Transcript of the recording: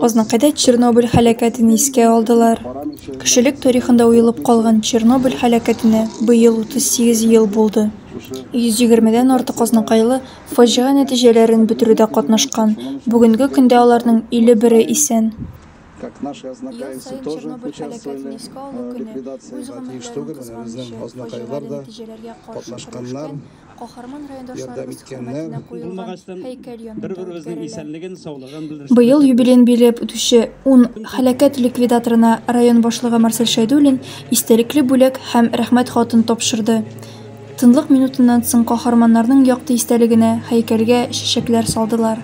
Азнакайда Чернобыль һәлакәтен искә алдылар. Кешелек тарихында уелып калган Чернобыль һәлакәтенә быел 38 ел булды. 120-дән артык азнакайлы фаҗига нәтиҗәләрен бетерүдә катнашкан. Бүгенге көндә аларның 51-е исән. Как наши азнакаевцы тоже участвуют в ликвидации. Тиештәге безнең азнакайлар да катнашканнар. Быел юбилеен билгеләп үтүче ун һәлакәт ликвидаторына район башлыгы Марсель Шәйдуллин истәлекле бүләк һәм Рәхмәт хатын тапшырды. Тынлык минутыннан соң каһарманнарның якты истәлегенә һәйкәлгә чәчәкләр салдылар.